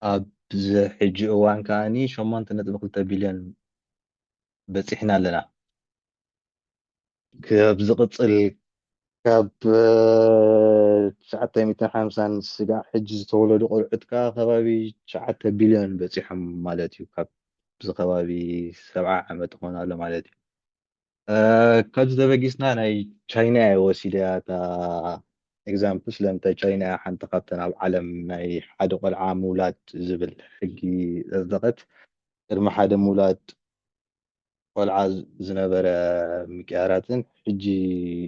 ኣብዚ ሕጂ እዋን ከኣ ሸሞንተ ነጥቢ ክልተ ቢልዮን በጺሕና ኣለና። ኣብ ዝቕጽል ካብ ትሽዓተ ሚእትን ሓምሳን ስጋዕ ሕጂ ዝተወለዱ ቆልዑት ከኣ ከባቢ ትሽዓተ ቢልዮን በጺሖም ማለት እዩ። ካብ ዝከባቢ ሰብዓ ዓመት ኾን ኣሎ ማለት እዩ። ካብዚ ተበጊስና ናይ ቻይና እየ ወሲደ እታ ኤግዛምፕል ስለምንታይ ቻይና እያ ሓንቲ ካብተን ኣብ ዓለም ናይ ሓደ ቆልዓ ምውላድ ዝብል ሕጊ ዘጽደቐት ቅድሚ ሓደ ምውላድ ቆልዓ ዝነበረ ምቅያራትን ሕጂ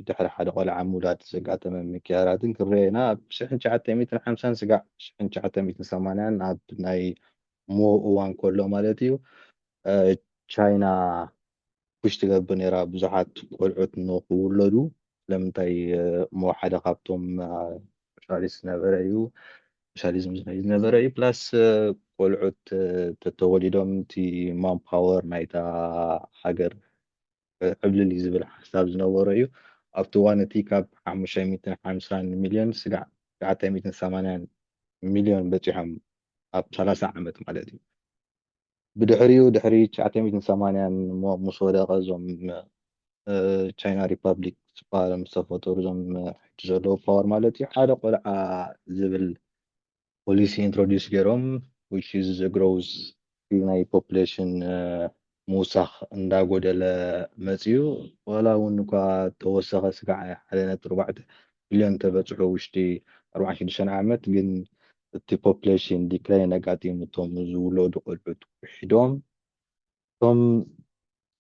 ድሕሪ ሓደ ቆልዓ ምውላድ ዘጋጠመ ምቅያራትን ክረኤና ኣብ ሽሕን ትሽዓተ ሚእትን ሓምሳን ስጋዕ ሽሕን ትሽዓተ ሚእትን ሰማንያን ኣብ ናይ ሞ እዋን ከሎ ማለት እዩ ቻይና ፑሽ ትገብር ነይራ ብዙሓት ቆልዑት ንክውለዱ ስለምንታይ እሞ ሓደ ካብቶም ሻሊስ ዝነበረ እዩ ሻሊዝም ዝመይ ዝነበረ እዩ ፕላስ ቆልዑት ተተወሊዶም እቲ ማን ፓወር ናይታ ሃገር ዕብልል እዩ ዝብል ሓሳብ ዝነበሮ እዩ ኣብቲ ዋን እቲ ካብ ሓሙሽተ ሚእትን ሓምሳን ሚልዮን ስጋዕ ትሽዓተ ሚእትን ሰማንያን ሚልዮን በፂሖም ኣብ ሰላሳ ዓመት ማለት እዩ ብድሕሪኡ ድሕሪ ትሽዓተ ሚእትን ሰማንያን እሞ ምስ ወደቀ እዞም ቻይና ሪፓብሊክ ዝበሃሉ ምስ ተፈጠሩ እዞም ሕጂ ዘለዉ ፓወር ማለት እዩ ሓደ ቆልዓ ዝብል ፖሊሲ ኢንትሮዲስ ገይሮም which is the growth ናይ ፖፕሌሽን ምውሳኽ እንዳጎደለ መፅዩ ዋላ እውን እኳ ተወሰኸ ስጋዕ ሓደ ነጥቢ ኣርባዕተ ቢልዮን ተበፅሑ ውሽጢ ኣርብዓን ሽዱሽተን ዓመት ግን እቲ ፖፕሌሽን ዲክላይን ኣጋጢሙ እቶም ዝውለዱ ቆልዑት ውሒዶም እቶም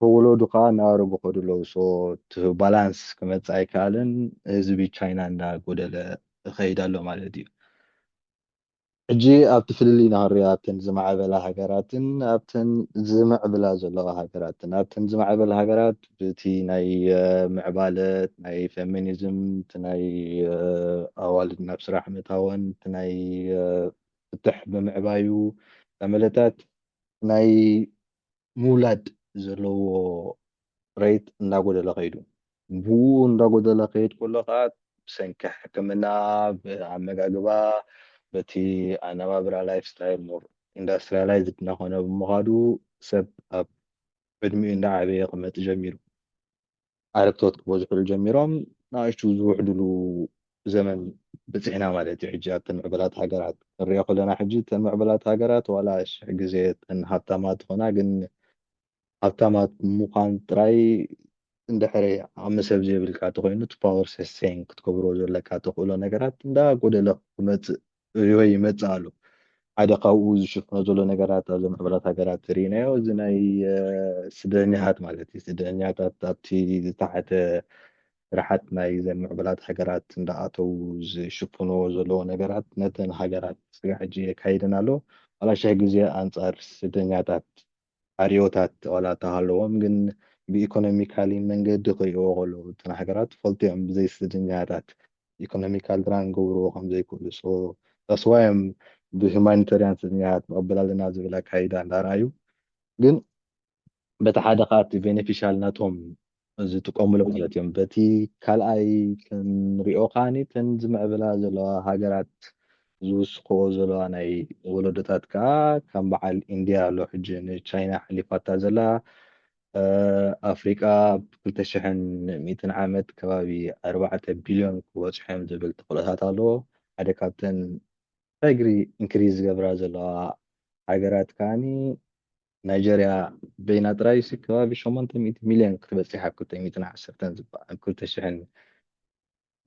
ተወለዱ ከኣ እናኣረጉ ይኸዱ ኣለዉ ሶ እቲ ባላንስ ክመጽእ ኣይከኣለን ህዝቢ ቻይና እንዳጎደለ ይኸይድ ኣሎ ማለት እዩ ሕጂ ኣብቲ ፍልልይ ንሃርዮ ኣብተን ዝማዕበላ ሃገራትን ኣብተን ዝምዕብላ ዘለዋ ሃገራትን ኣብተን ዝማዕበላ ሃገራት ብቲ ናይ ምዕባለ ናይ ፌሚኒዝም እቲ ናይ ኣዋልድ ናብ ስራሕ ምእታወን እቲ ናይ ፍትሕ ምምዕባዩ ተመለታት ናይ ምውላድ ዘለዎ ሬት እንዳጎደለ ከይዱ። ብኡ እንዳጎደለ ክሄድ ከሎ ከኣ ብሰንኪ ሕክምና ብኣመጋግባ በቲ ኣነባብራ ላይፍ ስታይል ሞር ኢንዳስትሪያላይዝድ እንዳኾነ ብምኻዱ ሰብ ኣብ ዕድሚኡ እንዳዓበየ ክመጽእ ጀሚሩ። ዓረግቶት ክበዝሑሉ ጀሚሮም ናእሽቱ ዝውሕዱሉ ዘመን በጺሕና ማለት እዩ። ሕጂ ኣብተን ምዕቡላት ሃገራት ክንሪኦ ከሎና ሕጂ እተን ምዕቡላት ሃገራት ዋላ ሽሕ ግዜ እተን ሃብታማት ይኹና ግን ሃብታማት ምዃን ጥራይ እንድሕሪ ዓቕሚ ሰብ ዘይብልካ ተኾይኑ እቲ ፓወር ሰስቴን ክትገብሮ ዘለካ ተኽእሎ ነገራት እንዳጎደለ ክመጽእ ሪሆ ይመጽእ ኣሎ ሓደ ካብኡ ዝሽፍኖ ዘሎ ነገራት ኣብዘ ምሕበራት ሃገራት ርኢናዮ እዚ ናይ ስደተኛታት ማለት እዩ ስደተኛታት ኣብቲ ዝተሓተ ስራሓት ናይ ዘ ምዕበላት ሃገራት እንዳኣተው ዝሽፍንዎ ዘለዎ ነገራት ነተን ሃገራት ስጋ ሕጂ የካይደን ኣሎ ዋላ ሸሕ ግዜ ኣንጻር ስደተኛታት ዕርዮታት ዋላ እካ ሃለዎም ግን ብኢኮኖሚካሊ መንገዲ ክሪእዎ ከለዉ እተን ሃገራት ፈልጥዮም ብዘይ ስድንጋያታት ኢኮኖሚካል ድራን ክገብርዎ ከም ዘይክእሉ so that's why እዮም ብሁማኒተርያን ስድንጋያት ንቅበል ኣለና ዝብል ኣካይዳ እንዳ ኣርኣዩ ግን በቲ ሓደ ከኣ እቲ ቤነፊሻል ናቶም ዝጥቀምሉ ማለት እዮም በቲ ካልኣይ ክንሪኦ ከዓኒ እተን ዝምዕብላ ዘለዋ ሃገራት ዝውስክኦ ዘለዋ ናይ ወለዶታት ከዓ ከም በዓል ኢንድያ ኣሎ ሕጂ ንቻይና ሓሊፋታ ዘላ እ ኣፍሪቃ ኣብ ክልተ ሽሕን ሚእትን ዓመት ከባቢ ኣርባዕተ ቢልዮን ክበጽሑ እዮም ዝብል ተኽእሎታት ኣሎ ሓደ ካብተን ዳግሪ ኢንክሪዝ ዝገብራ ዘለዋ ሃገራት ከዓኒ ናይጀርያ በይና ጥራይሲ ከባቢ ሸሞንተ ሚእቲ ሚልዮን ክትበጽሕ ኣብ ክልተ ሚእትን ዓሰርተን ዝባ ኣብ ክልተ ሽሕን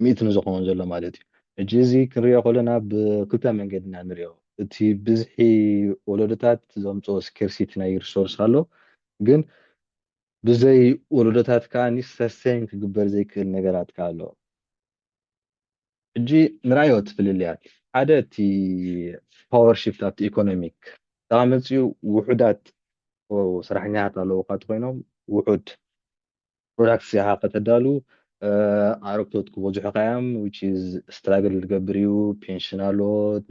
ሚእትን ዝኸውን ዘሎ ማለት እዩ። ሕጂ እዚ ክንሪኦ ከሎና ብክልተ መንገዲ ኢና ንሪኦ። እቲ ብዝሒ ወለዶታት ዘምጽኦ ስኬርሲቲ ናይ ሪሶርስ ኣሎ፣ ግን ብዘይ ወለዶታት ከኣ ሰስቴይን ክግበር ዘይክእል ነገራት ከኣ ኣሎ። ሕጂ ንርኣዮ እቲ ፍልልያት። ሓደ እቲ ፓወር ሽፍት ኣብቲ ኢኮኖሚክ ዳኣ መጺኡ ውሑዳት ሰራሕኛታት ኣለዉካ እንተኾይኖም ውሑድ ፕሮዳክትስ ኢኻ ከተዳሉ ኣረግቶት ክበዝሑኻ እዮም which is ስትራግል ዝገብር እዩ ፔንሽን ኣሎ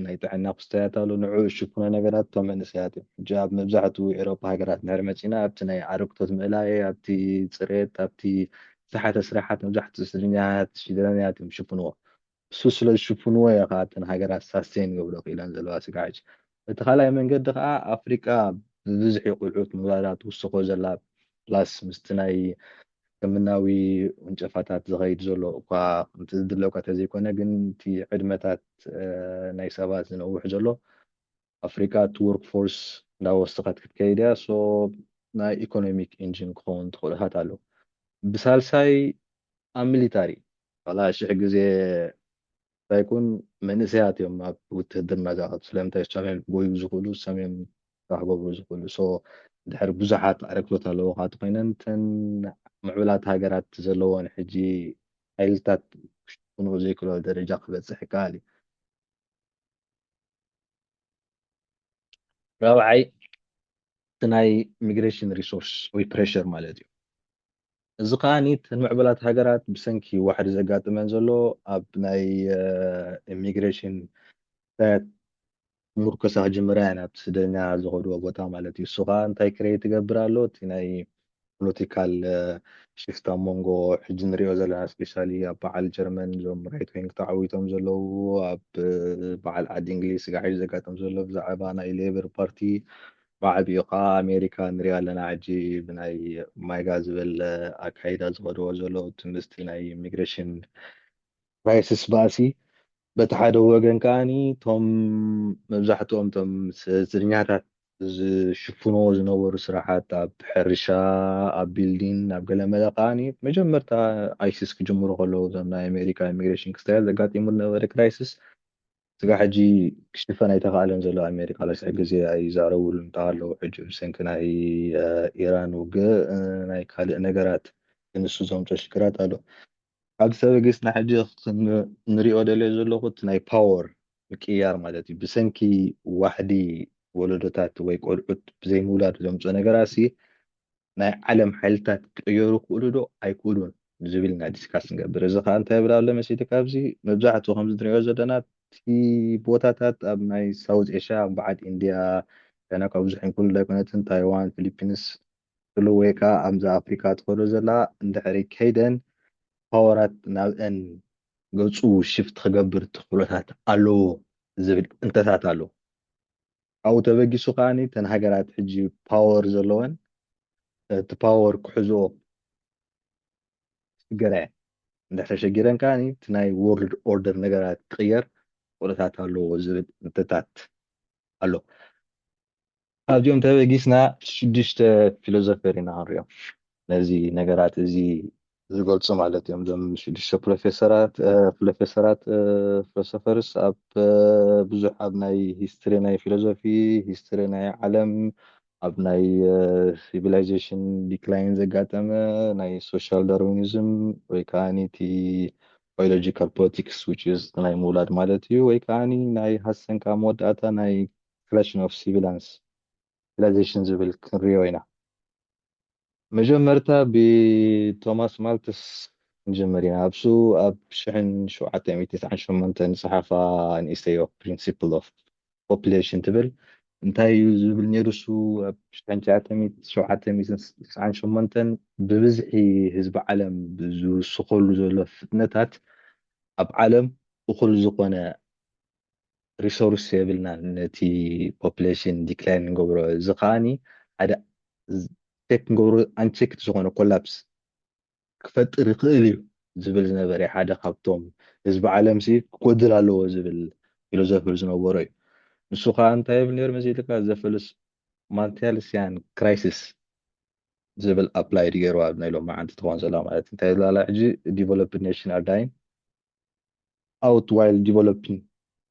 ናይ ጥዕና ክስታያት ኣሎ ንዕኡ ዝሽፍኖ ነገራት እቶም መንእሰያት እዮም ሕጂ ኣብ መብዛሕትኡ ኤሮፓ ሃገራት እንድሕር መጺና ኣብቲ ናይ ኣረግቶት ምእላይ ኣብቲ ጽሬት ኣብቲ ብዙሓት ኣስራሓት መብዛሕትኡ ስደተኛታት ሽደራውያት እዮም ዝሽፍንዎ። እሱ ስለ ዝሽፍንዎ እየ ከኣ እተን ሃገራት ሳስቴን ይገብሮ ክኢለን ዘለዋ ስግዕግዕ። በቲ ካልኣይ መንገዲ ከኣ ኣፍሪቃ ብብዝሒ ቁልዑት ምውላዳ ትውስኾ ዘላ ፕላስ ምስቲ ናይ ሕክምናዊ ውንጨፋታት ዝኸይድ ዘሎ እኳ ከምቲ ዝድለ እኳ ተዘይኮነ ግን እቲ ዕድመታት ናይ ሰባት ዝነውሕ ዘሎ ኣፍሪቃ እቲ ዎርክ ፎርስ እንዳወሰኸት ክትከይድ እያ so ናይ ኢኮኖሚክ ኢንጂን ክኸውን ተኽእሎታት ኣሎ ብሳልሳይ ኣብ ሚሊታሪ ዋላ ሽሕ ግዜ እንታይ ኩን መንእሰያት እዮም ኣብ ውትህድርና ዝኣትው ስለምንታይ እሶም እዮም ክጎዩ ዝኽእሉ እሶም እዮም ስራሕ ክገብሩ ዝኽእሉ so ድሕር ብዙሓት ኣረክቶት ኣለውኻ ተኾይነን እተን ምዕቡላት ሃገራት ዘለወን ሕጂ ሓይልታት ክሽፍንኦ ዘይክእላሉ ደረጃ ክበጽሕ ይከኣል እዩ። ራብዓይ እቲ ናይ ሚግሬሽን ሪሶርስ ወይ ፕሬሸር ማለት እዩ። እዚ ከዓ እተን ምዕቡላት ሃገራት ብሰንኪ ዋሕዲ ዘጋጥመን ዘሎ ኣብ ናይ ኢሚግሬሽን ጉዳያት ምርኮሳ ክጅምራ እየን ኣብቲ ስደተኛ ዝኸድዎ ቦታ ማለት እዩ። እሱ ከዓ እንታይ ክሬት ይገብር ኣሎ እቲ ናይ ፖሎቲካል ሽፍት ኣብ መንጎ ሕጂ ንሪኦ ዘለና ስፔሻሊ ኣብ በዓል ጀርመን እዞም ራይት ዊንግ ተዓዊቶም ዘለዉ ኣብ በዓል ዓዲ እንግሊዝ ስጋዕ ሕጂ ዘጋጥም ዘሎ ብዛዕባ ናይ ሌበር ፓርቲ ብዓቢኡ ከዓ ኣሜሪካ ንሪኣ ኣለና ሕጂ ብናይ ማይጋ ዝበለ ኣካይዳ ዝኸድዎ ዘሎ እቲ ምስቲ ናይ ኢሚግሬሽን ክራይስስ ባእሲ በቲ ሓደ ወገን ከኣ እቶም መብዛሕትኦም እቶም ስደተኛታት ዝሽፍንዎ ዝነበሩ ስራሓት ኣብ ሕርሻ ኣብ ቢልዲን ኣብ ገለመለ ከኣ መጀመርታ ኣይሲስ ክጅምሩ ከለዉ እዞም ናይ ኣሜሪካ ኢሚግሬሽን ክስተያት ዘጋጢሙ ዝነበረ ክራይስስ ስጋ ሕጂ ክሽፈን ኣይተኻእለን ዘሎ ኣሜሪካ ለስዕ ግዜ ኣይዛረብሉ እንተሃለዉ ሕጂ ብሰንኪ ናይ ኢራን ውግእ ናይ ካልእ ነገራት ንሱ ዘምጾ ሽግራት ኣሎ ኣብ ሰበግስ ንሕጂ ክንሪኦ ደልዮ ዘለኹ እቲ ናይ ፓወር ምቅይያር ማለት እዩ ብሰንኪ ዋሕዲ ወለዶታት ወይ ቆልዑት ብዘይ ምውላድ ዘምጽኦ ነገራሲ ናይ ዓለም ሓይልታት ክቅየሩ ይኽእሉ ዶ ኣይክእሉን ዝብል ኢና ዲስካስ ንገብር እዚ ከኣ እንታይ ይብል ኣሎ መሲልካ ኣብዚ መብዛሕትኡ ከምዚ ንሪኦ ዘለና እቲ ቦታታት ኣብ ናይ ሳውዝ ኤሽያ በዓል ኢንድያ ቻይና ካብ ብዙሕን ክልል ኣይኮነትን ታይዋን ፊሊፒንስ ትብሉ ወይ ከኣ ኣምዛ ኣፍሪቃ ትከዶ ዘላ እንድሕሪ ከይደን ፓወራት ናብእን ገጹ ሽፍት ክገብር ተክእሎታት ኣለዎ ዝብል እንተታት ኣሎ። ካብኡ ተበጊሱ ከኣ እተን ሃገራት ሕጂ ፓወር ዘለወን እቲ ፓወር ክሕዝኦ ክሽግራ እየን። እንድሕር ተሸጊረን ከኣ እቲ ናይ ዎርልድ ኦርደር ነገራት ክቅየር ተክእሎታት ኣለዎ ዝብል እንተታት ኣሎ። ካብዚኦም ተበጊስና ሽዱሽተ ፊሎዞፈር ኢና ክንሪኦም ነዚ ነገራት እዚ ዝገልጹ ማለት እዮም እዞም ሽዱሽተ ፕሮፌሰራት ፕሮፌሰራት ፊሎሶፈርስ ኣብ ብዙሕ ኣብ ናይ ሂስትሪ ናይ ፊሎዞፊ ሂስትሪ ናይ ዓለም ኣብ ናይ ሲቪላይዜሽን ዲክላይን ዘጋጠመ ናይ ሶሻል ዳርዊኒዝም ወይ ከዓኒ እቲ ባዮሎጂካል ፖለቲክስ ዊች ኢዝ ናይ ምውላድ ማለት እዩ ወይ ከዓኒ ናይ ሃሰንካ መወዳእታ ናይ Creation of Civilians Civilization ዝብል ክንሪኦ ኢና። መጀመርታ ብቶማስ ማልትስ ክንጅምር ኢና። ኣብሱ ኣብ ሽሕን ሸውዓተ ሚእቲ ትስዓን ሸሞንተን ዝጸሓፋ ንእሽተዮ Principle of Population ትብል እንታይ እዩ ዝብል ነይሩ እሱ ኣብ ሽሕን ትሽዓተ ሚእትን ሸውዓተ ሚእትን ትስዓን ሸሞንተን ብብዝሒ ህዝቢ ዓለም ዝውስኸሉ ዘሎ ፍጥነታት ኣብ ዓለም እኹል ዝኾነ ሪሶርስ የብልናን ነቲ ፖፕሌሽን ዲክላይን ንገብሮ እዚ ከዓኒ ሓደ ቴክ ንገብሮ ኣንቸክት ዝኾነ ኮላፕስ ክፈጥር ይኽእል እዩ ዝብል ዝነበረ ሓደ ካብቶም ህዝቢ ዓለም ሲ ክጎድል ኣለዎ ዝብል ፊሎዞፊ ዝነበሮ እዩ ንሱ ከዓ እንታይ ይብል ነይሩ መሲልካ ዘፈልስ ማንቴልስያን ክራይሲስ ዝብል ኣፕላይድ ገይሩ ኣብ ናይ ሎሚ መዓንቲ ትኾን ዘላ ማለት እንታይ ዝላላ ሕጂ ዲቨሎፕድ ኔሽን ኣር ዳይን ኣውት ዋይል ዲቨሎፒንግ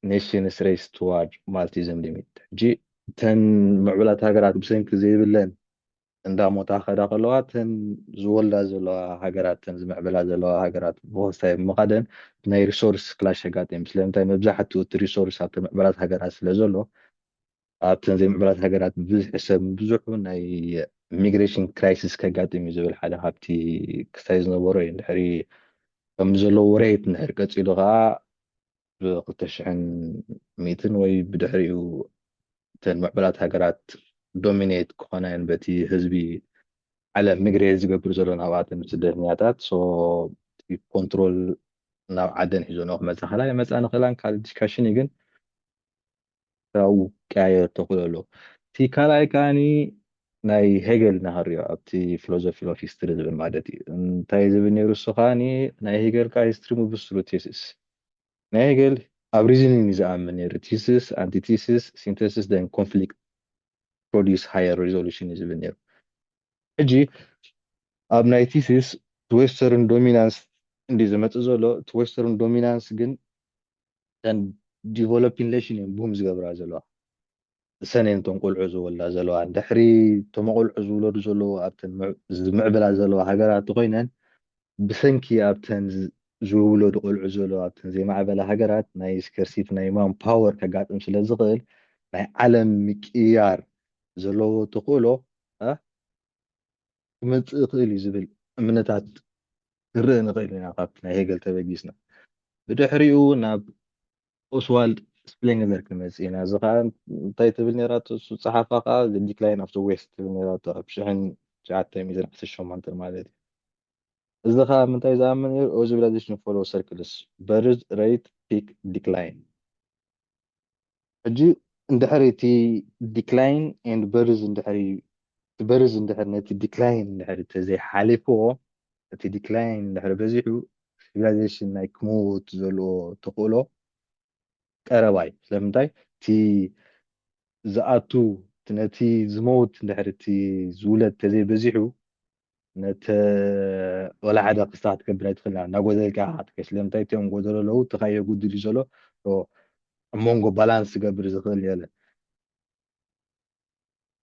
ኔሽንስ ሬይስ ቱዋርድ ማልቲዝም ሊሚት ሕጂ እተን ምዕቡላት ሃገራት ብሰንኪ ዘይብለን እንዳሞታ ከዳ ከለዋ እተን ዝወልዳ ዘለዋ ሃገራት እተን ዝምዕብላ ዘለዋ ሃገራት ብወሳይ ብምኻደን ናይ ሪሶርስ ክላሽ የጋጥም ስለምንታይ መብዛሕትኡ እቲ ሪሶርስ ኣብተን ምዕቡላት ሃገራት ስለ ዘሎ ኣብተን ዘይምዕቡላት ሃገራት ብብዝሒ ሰብ ምብዝሑ ናይ ሚግሬሽን ክራይሲስ ከጋጥም እዩ ዝብል ሓደ ካብቲ ክሳይ ዝነበሮ እዩ ድሕሪ ከም ዘሎ ወሬት እንድሕር ቀፂሉ ከዓ ብክልተ ሽሕን ሚእትን ወይ ብድሕሪኡ እተን ምዕብላት ሃገራት ዶሚኔት ክኾና እየን በቲ ህዝቢ ዓለም ሚግሬት ዝገብር ዘሎ ናብኣተን ስደተኛታት ሶ ኮንትሮል ናብ ዓደን ሒዞኖ ክመፃ ክላ ይመፃ ንክእላን ካልእ ዲስካሽን እዩ ግን ካብኡ ክቀያየር ተኽእሎ ኣሎ። እቲ ካልኣይ ከኣ ናይ ሄገል ንሃርዮ ኣብቲ ፊሎዞፊ ኦፍ ሂስትሪ ዝብል ማለት እዩ። እንታይ እዩ ዝብል ነይሩ እሱ ከኣ ናይ ሄገል ከኣ ሂስትሪ ምብስሉ ቴሲስ ናይ ሄገል ኣብ ሪዝኒን እዩ ዝኣምን ነይሩ ቲሲስ ኣንቲቲሲስ ሲንተሲስ ደን ኮንፍሊክት ፕሮዲስ ሃየር ሪዞሉሽን እዩ ዝብል ነይሩ ሕጂ ኣብ ናይ ቲሲስ ዌስተርን ዶሚናንስ እንዲ ዝመጽእ ዘሎ እቲ ዌስተርን ዶሚናንስ ግን እተን ዲቨሎፒን ነሽን እየን ቡም ዝገብራ ዘለዋ እሰን እየን እቶም ቆልዑ ዝወልዳ ዘለዋ ድሕሪ እቶም ቆልዑ ዝውለዱ ዘለዉ ኣብተን ዝምዕብላ ዘለዋ ሃገራት እንተኮይነን ብሰንኪ ኣብተን ዝውለዱ ቆልዑ ዘለዋ ኣብተን ዘይማዕበላ ሃገራት ናይ ስከርሲቲ ናይ ማን ፓወር ከጋጥም ስለ ዝኽእል ናይ ዓለም ምቅያር ዘለዎ ተኽእሎ ክመፅእ ይኽእል እዩ ዝብል እምነታት ክንርኢ ንኽእል ኢና ካብቲ ናይ ሄገል ተበጊስና ብድሕሪኡ ናብ ኦስዋልድ ስፕሌንግለር ክንመጽእ ኢና እዚ ከኣ እንታይ ትብል ነራቶ እሱ ጸሓፋ ከኣ ዲክላይን ኣፍ ዘ ዌስት ትብል ነራቶ ኣብ ሽሕን ትሽዓተ ሚእትን ዓሰርተ ሸሞንተ ማለት እዩ እዚ ከዓ ምንታይ ዝኣምን ነሩ ኦዚቪላይዜሽን ፎሎ ሰርክልስ በርዝ ሬት ፒክ ዲክላይን ሕጂ እንድሕር እቲ ዲክላይን ኤንድ በርዝ እንድሕር እቲ በርዝ እንድሕር ነቲ ዲክላይን እንድሕር እንተዘይሓሊፍዎ እቲ ዲክላይን እንድሕር በዚሑ ሲቪላይዜሽን ናይ ክመውት ዘለዎ ተኽእሎ ቀረባ እዩ ስለምንታይ እቲ ዝኣቱ ነቲ ዝመውት እንድሕር እቲ ዝውለድ ተዘይበዚሑ ነቲ ወላ ሓደ ክስታ ክትገብር ኣይትኽእልና እናጎዘልካ ኢኻ ክትከይድ ስለምንታይ እቲኦም ጎደሎ ኣለዉ እቲ ካዮ ጉድል እዩ ዘሎ ኣብ መንጎ ባላንስ ዝገብር ዝኽእል የለ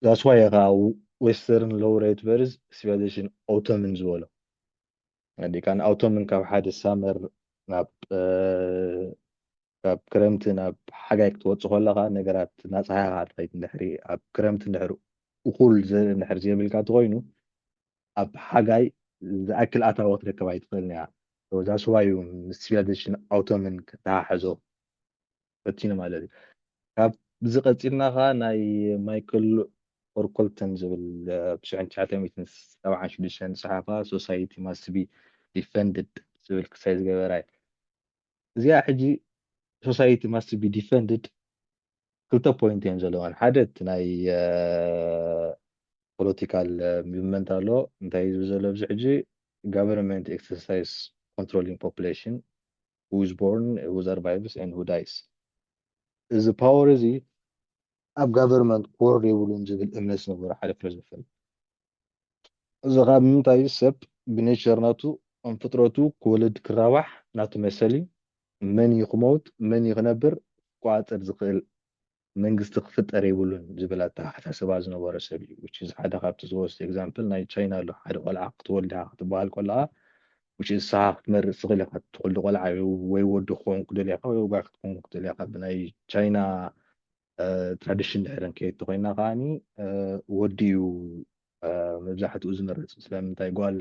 ዛስዋይ እኻ ዌስተርን ሎው ሬት ቨርዝ ሲቪላይዜሽን ኦቶምን ዝበሎ ዲካን ኦቶምን ካብ ሓደ ሳመር ናብ ካብ ክረምቲ ናብ ሓጋይ ክትወጽእ ኮለኻ ነገራት ናጻሃኻ ትኸይድ እንድሕሪ ኣብ ክረምቲ እንድሕሪ እኹል ዘርኢ እንድሕሪ ዘይብልካ ተኾይኑ ኣብ ሓጋይ ዝኣክል ኣታዊ ክትረክብ ኣይትኽእልን እያ So that's why you civilization autumn ከተሓሕዞ ፈቲኑ ማለት እዩ ካብዚ ቀፂልና ከዓ ናይ ማይክል ኦርኮልተን ዝብል ብሽዑ ትሽዓተ ሚእትን ሰብዓን ሽዱሽተን ዝፀሓፋ ሶሳይቲ ማስቢ ዲፈንድድ ዝብል ክሳይ ዝገበራ እዩ እዚኣ ሕጂ ሶሳይቲ ማስት ቢ ዲፈንድድ ክልተ ፖይንት እዮም ዘለዋን ሓደ እቲ ናይ ፖለቲካል ሙቭመንት ኣሎ እንታይ እዩ ዝብል ዘሎ ኣብዚ ሕጂ ጋቨርንመንት ኤክሰርሳይዝ ኮንትሮሊንግ ፖፕሌሽን who is born, who survives and who dies እዚ ፓወር እዚ ኣብ ጋቨርንመንት ክወርድ የብሉን ዝብል እምነት ዝነበሮ ሓደ ፕረዝደንት እዚ ከኣ ብምንታይ ሰብ ብኔቸር ናቱ ከም ፍጥረቱ ክወልድ ክራባሕ ናቱ መሰል እዩ መን እዩ ክመውት መን እዩ ክነብር ክቆጻጸር ዝክእል መንግስቲ ክፍጠር የብሉን ዝብል ኣተሓሳስባ ዝነበሮ ሰብ እዩ which is ሓደ ካብቲ ዝወስድ example ናይ ቻይና ኣሎ ሓደ ቆልዓ ክትወልድ ኢካ ክትበሃል ከለካ which is ንስካ ክትመርጽ ትክእል ኢካ ትወልድ ቆልዓ ወይ ወዲ ክከውን ክትደሊ ኢካ ወይ ጓል ክትከውን ክትደሊ ኢካ ብናይ ቻይና ትራዲሽን ድሕሪ ንከይድ ተኾይና ከዓኒ ወዲ እዩ መብዛሕትኡ ዝመርፅ ስለምንታይ ጓል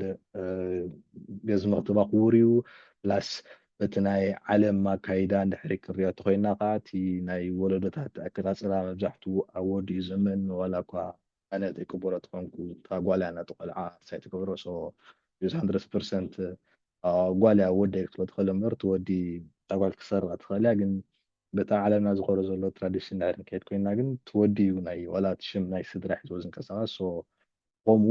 ገዝ መክተባ ክቡር እዩ ፕላስ በቲ ናይ ዓለም ኣካይዳ እንድሕሪ ክንሪኦ ተኮይና ከዓ እቲ ናይ ወለዶታት ኣቀፃፅላ መብዛሕትኡ ኣብ ወዲ እዩ ዘመን ዋላ እኳ ኣነ ዘይቅበሎ ተኾንኩ እታ ጓል እያ ነቲ ቆልዓ ሳይ ትገብሮ ሶ ዩዝ ሃንድረስ ፐርሰንት ጓል እያ ወዲ ኣይክትበል ትኽእል እምበር እቲ ወዲ እታ ጓል ክትሰርቃ ትኽእል እያ ግን በታ ዓለምና ዝኮረ ዘሎ ትራዲሽን ድሕሪ ንከይድ ኮይንና ግን እቲ ወዲ እዩ ናይ ዋላ እቲ ሽም ናይ ስድራ ሒዝዎ ዝንቀሳቀስ so ኾሙ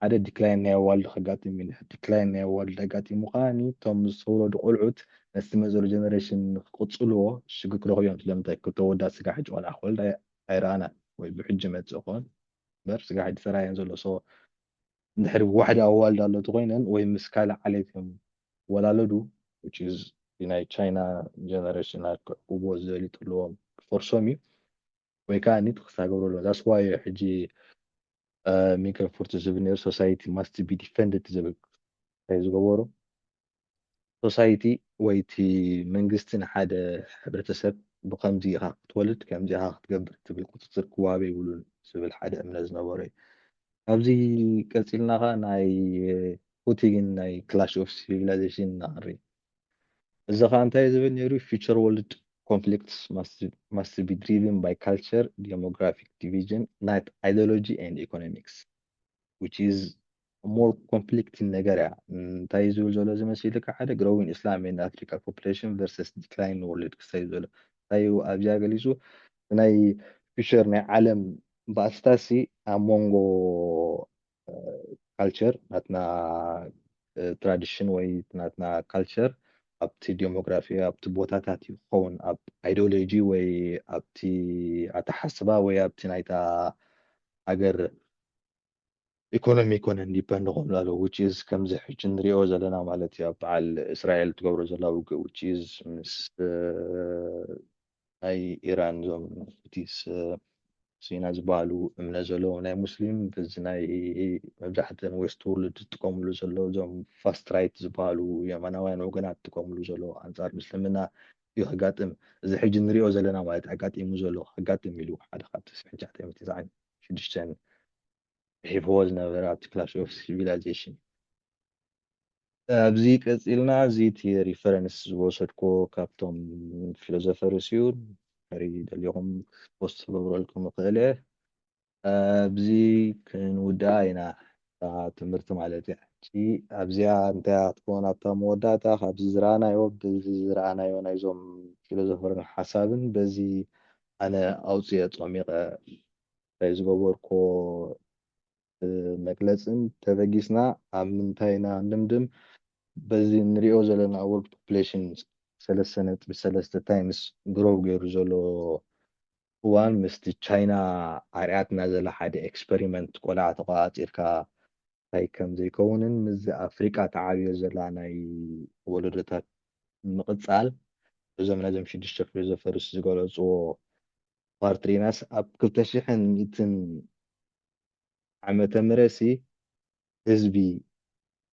ሓደ ዲክላይን ናይ ኣዋልድ ከጋጥም እዩ እንድሕር ዲክላይን ናይ ኣዋልድ ኣጋጢሙ ከኣ እቶም ዝተወለዱ ቆልዑት ነቲ መዘሉ ጀነሬሽን ንክቅጽልዎ ሽግር ክረክቡ እዮም ስለምንታይ ክልተ ኣወዳት ስጋብ ሕጂ ቆልዓ ክወልዳ ኣይረኣናን ወይ ብሕጂ ይመጽእ ክኮን እምበር ስጋብ ሕጂ ተራእየን ዘሎ so እንድሕሪ ዋሕዲ ኣዋልድ ኣሎ ተኾይነን ወይ ምስ ካልእ ዓሌት እዮም ዝወላለዱ which is ብናይ ቻይና ጀነረሽናት ክዕቅብዎ ዝደልዩ ተለዎም ክፈርሶም እዩ ወይ ከኣ ኒት ክሳ ገብሮ ኣለዎ ዛስ ዋይ ሕጂ ሚገ ፉርቲ ዝብል ነይሩ ሶሳይቲ ማስት ቢ ዲፈንድድ ዝብል ዝገበሩ ሶሳይቲ ወይ እቲ መንግስቲ ንሓደ ሕብረተሰብ ብኸምዚ ኢኻ ክትወልድ ከምዚ ኢኻ ክትገብር ትብል ቁፅፅር ክዋሃብ የብሉን ዝብል ሓደ እምነት ዝነበሮ እዩ። ካብዚ ቀፂልና ኸዓ ናይ ፑቲግን ናይ ክላሽ ኦፍ ሲቪላይዜሽን ነቕሪ። እዚ ኸዓ እንታይ ዝብል ነይሩ ፊቸር ወርልድ ኮንፍሊክትስ ማስት ቢ ድሪቭን ባይ ካልቸር ዴሞግራፊክ ዲቪዥን ናት ኣይዲዮሎጂ ኤንድ ኢኮኖሚክስ ዊች ኢዝ a more conflicting ነገር እያ እንታይ እዩ ዝብል ዘሎ እዚ መሲልካ ሓደ growing Islam in Africa population versus declining world ክሳይ ዘሎ እንታይ እዩ ኣብዚኣ ገሊጹ ናይ ፊቸር ናይ ዓለም ባእስታሲ ኣብ መንጎ ካልቸር ናትና ትራዲሽን ወይ ናትና ካልቸር ኣብቲ ዴሞግራፊ ኣብቲ ቦታታት እዩ ክኸውን ኣብ ኣይዲዮሎጂ ወይ ኣብቲ ኣተሓስባ ወይ ኣብቲ ናይታ ሃገር ኢኮኖሚ ኮነ እንዲፐንድ ክብሉ ኣለዉ which is ከምዚ ሕጂ ንሪኦ ዘለና ማለት እዩ ኣብ በዓል እስራኤል ትገብሮ ዘላ ውግእ which is ምስ ናይ ኢራን እዞም ሁቲስ ሲና ዝበሃሉ እምነት ዘለዎም ናይ ሙስሊም እዚ ናይ መብዛሕተን ዌስት ወርልድ ዝጥቀምሉ ዘሎ እዞም ፋስት ራይት ዝበሃሉ የማናውያን ወገናት ዝጥቀምሉ ዘሎ ኣንጻር ምስልምና እዩ ከጋጥም እዚ ሕጂ ንሪኦ ዘለና ማለት ኣጋጢሙ ዘሎ ከጋጥም ኢሉ ሓደ ካብቲ ስሕንቻ ሽዱሽተ ጽሒፍዎ ዝነበረ ኣብቲ ክላሽ ኦፍ ሲቪላይዜሽን። ኣብዚ ቀጺልና እዚ እቲ ሪፈረንስ ዝወሰድክዎ ካብቶም ፊሎዞፈርስ እዩ እንድሕሪ ደሊኹም ፖስት ክገብረልኩም ይኽእል እየ ኣብዚ ክንውድኣ ኢና እታ ትምህርቲ ማለት እያ ሕጂ ኣብዚኣ እንታይ እያ ክትከውን ኣብታ መወዳእታ ካብዚ ዝረኣናዮ በዚ ዝረኣናዮ ናይዞም ፊሎዞፈርን ሓሳብን በዚ ኣነ ኣውጺኤ ጾሚቀ ናይ ዝገበርክዎ መግለጽን ተበጊስና ኣብ ምንታይ ኢና ንድምድም በዚ ንሪኦ ዘለና ወርልድ ፖፕሌሽን ሰለስተ ነጥቢ ሰለስተ ታይምስ ግሮው ገይሩ ዘሎ እዋን ምስቲ ቻይና ኣርኣያትና ዘላ ሓደ ኤክስፐሪመንት ቆልዓ ተቆጻጺርካ ታይ ከም ዘይከውንን ምስዚ ኣብ ኣፍሪቃ ተዓብዮ ዘላ ናይ ወለዶታት ምቕጻል እዞም ናይዞም ሽዱሽተ ፊሎዞፈርስ ዝገለጽዎ ኳርትሪናስ ኣብ ክልተ ሽሕን ሚእትን ዓመተ ምረትሲ ህዝቢ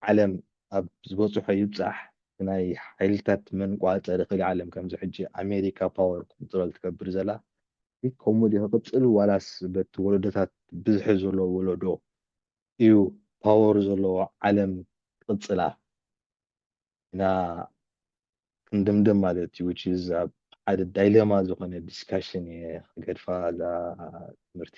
ዓለም ኣብ ዝበጽሖ ይብጻሕ ብናይ ሓይልታት መንቋጸሪ ክሊ ዓለም ከምዚ ሕጂ ኣሜሪካ ፓወር ኮንትሮል ትገብር ዘላ ከምኡ ድዩ ክቕጽል ዋላስ በቲ ወለዶታት ብዝሒ ዘሎ ወለዶ እዩ ፓወር ዘለዎ ዓለም ክቅጽላ ኢና ክንድምድም ማለት እዩ which is ኣብ ሓደ ዳይለማ ዝኾነ ዲስካሽን እየ ክገድፋ እዛ ትምህርቲ